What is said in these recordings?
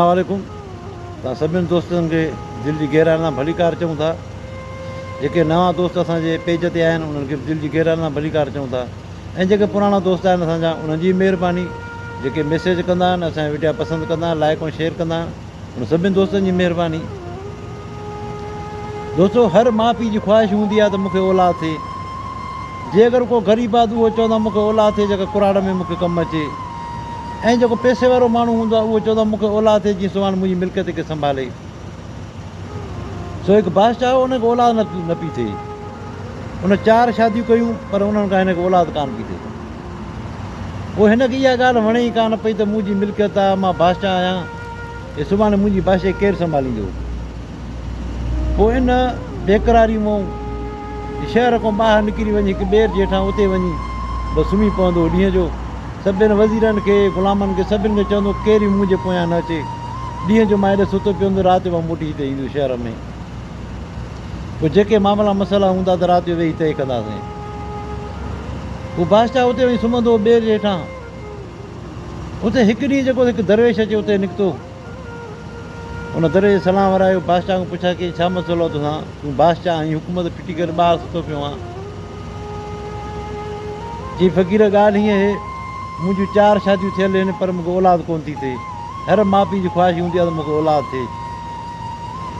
اسلام عليڪم توهان سڀني دوستن کي دل جي گهرائن سان ڀليڪار چئون ٿا جيڪي نوان دوست اسان جي پيج تي آهن انهن کي به دل جي گهرائن سان ڀليڪار چئون ٿا ۽ جيڪي پراڻا دوست آهن اسان جا انهن جي مهرباني جيڪي ميسيج ڪندا آهن اسان جا وڊيا پسند ڪندا آهن لائڪ ۽ شيئر ڪندا آهن انهن سڀني دوستن جي مهرباني دوستو هر ماء پيء جي خواهش هوندي آهي ته مون کي اولاد ٿئي جي اگر ڪو غريب آهي ته اهو چوندا مون کي اولاد ٿئي جيڪا ڪراڙ ۾ مون کي ڪم اچي ۽ جيڪو پئسي وارو ماڻهو هوندو آهي، اهو چوندو آهي، مون کي اولاد ٿئي جيئن سواڻ منهنجي ملڪيت کي سنڀالي. سو هڪ بادشاهه هو، ان کي اولاد نه پئي ٿئي. ان چار شاديون ڪيون، پر انهن کان هن کي اولاد ڪانه پئي ٿئي. پوء هن کي اها ڳالهه وڻي ئي ڪانه پئي ته منهنجي ملڪيت آهي، مان بادشاهه آهيان، هي سڀاڻي منهنجي بادشاهي ڪير سنڀاليندو؟ پوء ان بيقراري مئون شهر کان ٻاهر نڪري وڃي هڪ ٻير جي هيٺان اتي وڃي بس سمهي پوندو هو. ڏينهن جو سڀين وزيرن کي، غلامن کي سڀني کي چوندو هو ڪير به مون جي پويان نه اچي. ڏينهن جو مان هيڏي ستو پيو هوندو رات جو مان موٽي هتي ايندو شهر ۾. پوء جيڪي معاملا مسئلا هوندا ته رات جو ويهي طئي ڪنداسين. پوء بادشاهه اتي وڃي سمهندو هو ٻير جي هيٺان. اتي هڪ ڏينهن جيڪو هڪ درويش اچي اتي نڪتو. ان دري جي سلام ورايو، بادشاهه کان پڇا ڪيائين، ڇا مسئلو آهي توسان؟ تون بادشاهه آهين، حڪومت ڦٽي ڪري ٻاهر ستو پيو آهان. چيائين، فقير ڳالهه هيئن اهي، منهنجيون چار شاديون ٿيل آهن، پر مون کي اولاد ڪونه ٿي ٿئي. هر ماء پيء جي خواهش هوندي آهي ته مون کي اولاد ٿئي.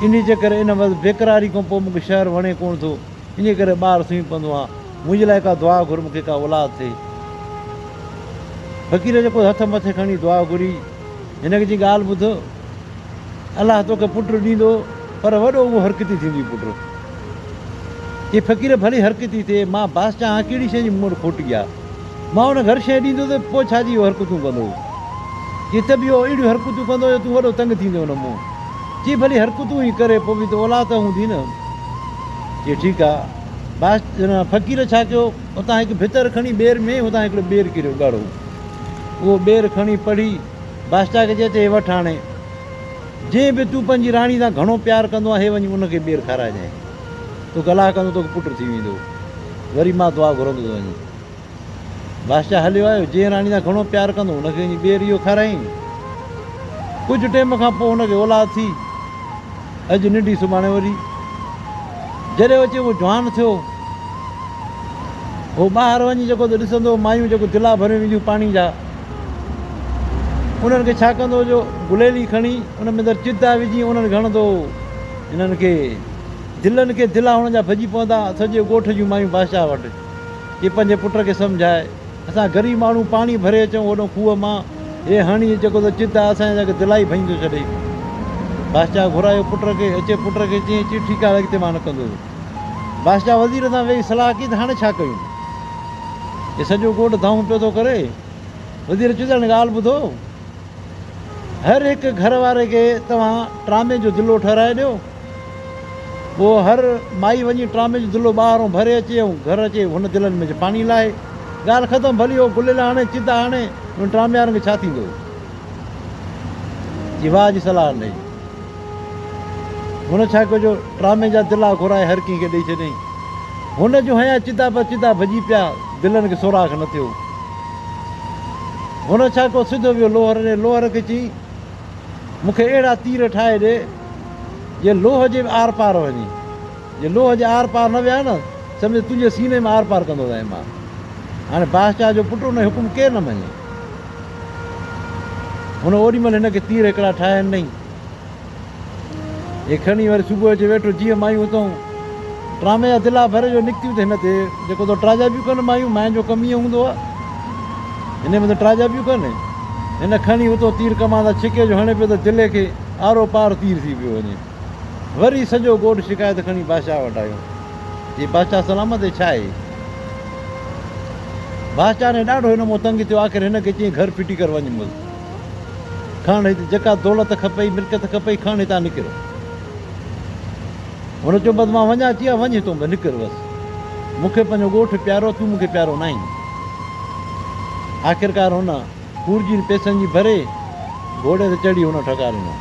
انهيء جي ڪري ان وقت بيقراري کان پوء مون کي شهر وڻي ڪونه ٿو، انهيء ڪري ٻاهر سمهي پوندو آهان. منهنجي لاء ڪا دعا گهر، مون کي ڪا اولاد ٿئي. فقير جيڪو هٿ مٿي کڻي دعا گهري، هن جي ڳالهه ٻڌ، الله توکي پٽ ڏيندو، پر وڏو اهو حرڪتي ٿيندي پٽ. اي فقير ڀلي حرڪتي ٿئي، مان بادشاهه آهيان ڪهڙي شيء جي مون وٽ کوٽ آهي. مان هن گهر شيء ڏيندو ته پوء ڇا جي اهو حرڪتون ڪندو. چي ته به اهو اهڙيون حرڪتون ڪندو جو تون وڏو تنگ ٿيندين هن مون چي ڀلي حرڪتون ئي ڪري پوء به ته اولاد ته هوندي نه. چي ٺيڪ آهي. بادشاهه فقير ڇا ڪيو؟ اتان هڪ ڀتر کڻي ٻير ۾ اتان هڪڙو ٻير ڪريو ڳاڙهو اهو ٻير کڻي پڙهي بادشاهه کي چئي ته هي وٺ هاڻي جنهن به تون پنهنجي راڻي سان گهڻو پيار ڪندو آهي وڃي ان کي ٻير کارائجانء تو گلاهه ڪندو توکي پٽ ٿي ويندو وري مان دعا گهرندو ته وڃي بادشاهه هليو آيو جنهن راڻي سان گهڻو پيار ڪندو هو ان کي وڃي ٻير اهو کارائين ڪجهه ٽيم کان پوء هن کي اولاد ٿي اڄ ننڍي سڀاڻي وڏي. جڏهن اچي اهو جوان ٿيو هو ٻاهر وڃي جيڪو ته ڏسندو هو مايون جيڪو تلا ڀريون اينديون پاڻي جا انهن کي ڇا ڪندو جو گليلي کڻي ان ۾ اندر چتا وجهي انهن کي هڻندو هو انهن کي دلن کي تلا هڻ جا ڀڄي پوندا سڄي ڳوٺ جون مايون بادشاهه وٽ جي پنهنجي پٽ کي سمجهائي اسان غريب ماڻهو پاڻي ڀري اچون اوڏو کوهه مان، هي هڻي جيڪو ته چت آ اسان جي تڪ دلائي ڀڃي ٿو ڇڏي. بادشاهه گهرايو پٽ کي، اچي پٽ کي چيائين چي ٺيڪ آ هاڻي اڳتي مان نه ڪندس. بادشاهه وزير سان ويهي صلاح ڪئي ته هاڻي ڇا ڪيون؟ هي سڄو ڳوٺ دانهون پيو ٿو ڪري. وزير چيو ته هاڻي ڳالهه ٻڌو، هر هڪ گهر واري کي توهان ٽرامي جو دلو ٺهرائي ڏيو، پوء هر مائي وڃي ٽرامي جو دلو ٻاهرون ڀري اچي ۽ گهر اچي هن دلن ۾ پاڻي لاهي. ڳالهه ختم. ڀلي هو گليل آڻي، چت آڻي، انهن ٽراميارن کي ڇا ٿيندو؟ جي واهه جي صلاح ڏنائين. هن ڇا ڪيو جو ٽرامي جا دلا گهرائي هر ڪنهن کي ڏئي ڇڏيائين. هن جون هنيا چدا پر چدا ڀڄي پيا، دلن کي سوراخ نه ٿيو. هن ڇا ڪيو سڌو ويو لوهر ڏي، لوهر کي چيائين. مون کي اهڙا تير ٺاهي ڏي، جي لوهه جي به آر پار وڃي. جي لوهه جي آر پار نه ويا نه، سمجهه تنهنجي سيني ۾ آر پار ڪندو ويم مان. هاڻي بادشاهه جو پٽ ان جو حڪم ڪير نه مڃي. هن اوڏي مهل هن کي تير هڪڙا ٺاهي ڏنائين. هي کڻي وري صبح جو ويٺو جيئن مايون اتئون. ڊرامي اڌلا ڀر جو نڪتيون ته هن تي جيڪو تو ٽراجابيون ڪن مايون ماين جو ڪم ايئن هوندو آهي هني به ته ٽراجابيون ڪن هن کڻي اتو تير ڪمان تان ڇڪي جو هڻي پيو ته دلي کي آرو پار تير ٿي پيو وڃي وري سڄو ڳوٺ شڪايت کڻي بادشاهه وٽ آيو جي بادشاهه سلامت هي ڇا هي بادشاهه ني ڏاڍو هن مون تنگ ٿيو آخر هن کي چين گهر ڦٽي ڪر وڃ مز کڻ هتي جيڪا دولت کپئي ملڪيت کپئي کڻ هتان نڪر هن چيو، بس مان وڃان ٿي ها، وڃ هتون به نڪر بس. مون کي پنهنجو ڳوٺ پيارو آهي، تون مون کي پيارو ناهين. آخرڪار هن کورجين پيسن جي ڀري گهوڙي تي چڙهي هن ٺڪا ڏنا.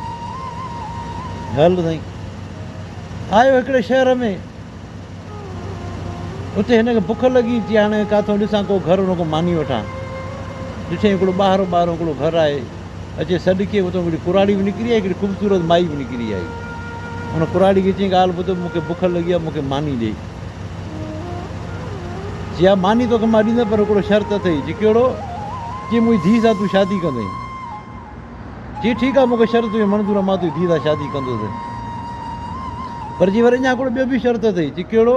هل سائين. آيو هڪڙي شهر ۾. اتي هن کي بک لڳي، چي هاڻي ڪاٿو ڏسان ڪو گهر هن کان ماني وٺان. ڏٺيائين هڪڙو ٻاهرو ٻاهرو هڪڙو گهر آهي. اچي سڏ ڪيو اتان هڪڙي ڪراڙي به نڪري آئي هڪڙي خوبصورت مائي به نڪري آئي ان ڪراڙي کي چيائين ڳالهه ٻڌ مون کي بک لڳي آهي مون کي ماني ڏي چي ها ماني توکي مان ڏيندس پر هڪڙو شرط اٿئي چي ڪهڙو چي منهنجي ڌيء سان تون شادي ڪندين چي ٺيڪ آهي مون کي شرط تنهنجي منظور مان تنهنجي ڌيء سان شادي ڪندوسين پر چي وري اڃا هڪڙو ٻيو به شرط اٿئي چي ڪهڙو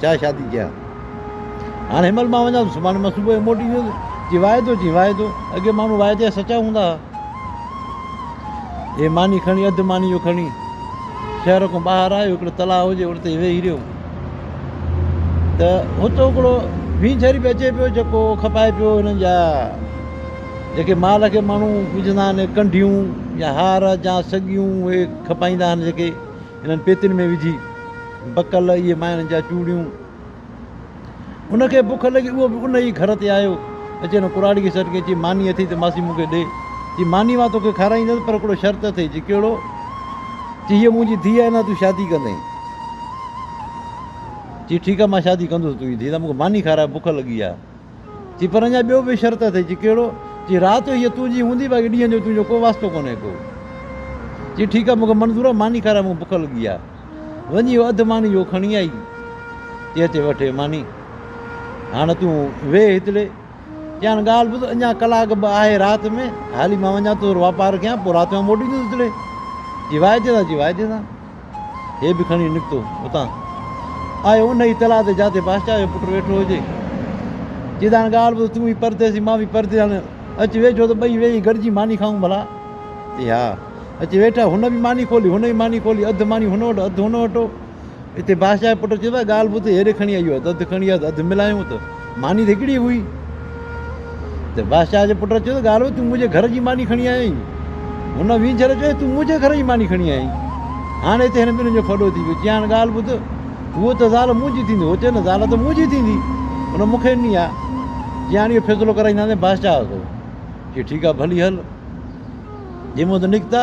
ڇا شادي ڪيان؟ هاڻ هن مهل مان وڃان ٿو سڀاڻي مان صبح جو موٽي ايندو ته چي واعدو چي واعدو اڳي ماڻهو واعدا جا سچا هوندا ها هي ماني کڻي اڌ ماني جو کڻي شهر کان ٻاهر آيو هڪڙو تلاء هجي ان تي ويهي رهيو ته اتو هڪڙو ڀينچر به اچي پيو جيڪو کپائي پيو هنن جا جيڪي مال کي ماڻهو وجهندا آهن ڪنڍيون يا هار جا سڳيون اهي کپائيندا آهن جيڪي انهن پيتين ۾ وجهي بڪل اهي مائڻ جا چوڙيون. ان کي بک لڳي اهو به ان ئي گهر تي آيو. اچي هن ڪراڙي کي سڏ ڪيائين، چي، ماني اٿئي ته ماسي مون کي ڏي. چي، ماني مان توکي کارائيندس پر هڪڙو شرط اٿئي. چي، ڪهڙو؟ چي، هيء منهنجي ڌيء آهي نه تون شادي ڪندين. چي، ٺيڪ آهي مان شادي ڪندس تنهنجي ڌيء سان مون کي ماني کاراء بک لڳي آهي. ٿي پر اڃا ٻيو به شرط اٿئي، چي ڪهڙو؟ چي رات جو هيء تنهنجي هوندي باقي ڏينهن جو تنهنجو ڪو واسطو ڪونهي ڪو. چي ٺيڪ آ مون کي منظور آ ماني کارائي مون کي بک لڳي آ. وڃي اهو اڌ ماني جو کڻي آئي. چي هتي وٺ هي ماني هاڻ تون ويهه هتڙي. چيائين ڳالهه ٻڌ اڃا ڪلاڪ به آهي رات ۾ هلي مان وڃان ٿو واپار ڪيان پوء رات جو موٽيندس هتڙي. چي واعدي سان چي واعدي سان. هي به کڻي نڪتو اتان. آيو ان ئي تلاء تي جاتي بادشاهه جو پٽ ويٺو هجي. جيدان ڳالهه ٻڌ، تون به پرديسي، مان به پرديسي، هاڻي اچ ويجهو ته ٻئي ويهي گڏجي ماني کائون ڀلا؟ چي ها. اچي ويٺا، هن به ماني کولي، هن به ماني کولي، اڌ ماني هن وٽ، اڌ هن وٽ. اتي بادشاهه جو پٽ چيو ته ڳالهه ٻڌ، هيڏي کڻي آئي آهيو ته اڌ کڻي آ ته اڌ ملايون ته. ماني ته هڪڙي هئي ته بادشاهه جي پٽ چيو ته ڳالهو تون منهنجي گهر جي ماني کڻي آيو آهين. هن وينجهر چيو تون منهنجي گهر جي ماني کڻي آيو آهين. هاڻ هتي هن ٻنهي جو ڦڏو ٿي پيو. چيائين ڳالهه ٻڌ هوء ته زال منهنجي ٿيندي. هو چيو نه زال ته منهنجي ٿيندي هن مون کي ڏني آهي. چيائين اهو فيصلو ڪرائينداسين بادشاهه کان. چيو ٺيڪ آهي ڀلي هل جي مون تان نڪتا.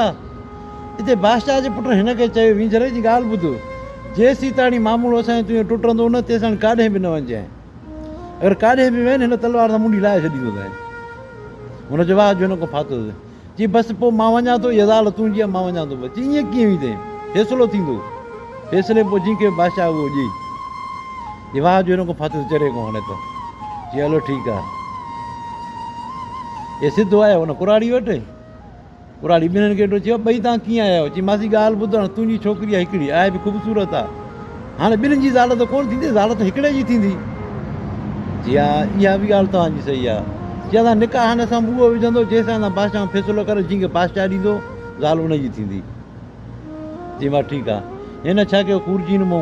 اتي بادشاهه جي پٽن هن کي چيو، وينجهري جي ڳالهه ٻڌ، جيسيتاڻي ماموڙو اسان جي تنهنجو ٽٽندو نه، تيساڻي ڪاڏهن به نه وڃجانء. اگر ڪاڏهن به وين، هن تلوار سان منڍي لاهي ڇڏيندوسانء. هن جو واهه جو هن کان ڦاٿو ٿيو. چيائين، بس پوء مان وڃان ٿو، اها زال تنهنجي آهي، مان وڃان ٿو بس. چيائين، ائين ڪيئن ويندين؟ فيصلو ٿيندو. فيصلي پوء جنهن کي به بادشاهه اهو ڏئي. جي واهه جو هن کان ڦاٿو ٿيو، چري کان هڻي ٿو. چيائين، هلو ٺيڪ آهي. اهي سڌو آيا هن ڪراڙي وٽ. ٻھراڙي ٻنھن کي ڏٺو چيو ٻئي تان ڪيئن آيا آھيو چي ماسي ڳالھ ٻڌ ھاڻ تنھنجي ڇوڪري آھي ھڪڙي آھي به خوبصورت آ ھاڻي ٻنھن جي زال ته ڪونھ ٿيندي زال ته ھڪڙي جي ٿيندي چي ھا اھا به ڳالھ توھان جي صحيح آ چي اسان نڪاح ھن سان به اھو وجھندو جنھن سان اسان بادشاھن فيصلو ڪريو جنھن کي بادشاھ ڏيندو زال ان جي ٿيندي چي ماس ٺيڪ آ ھن ڇا ڪيو خورجين مون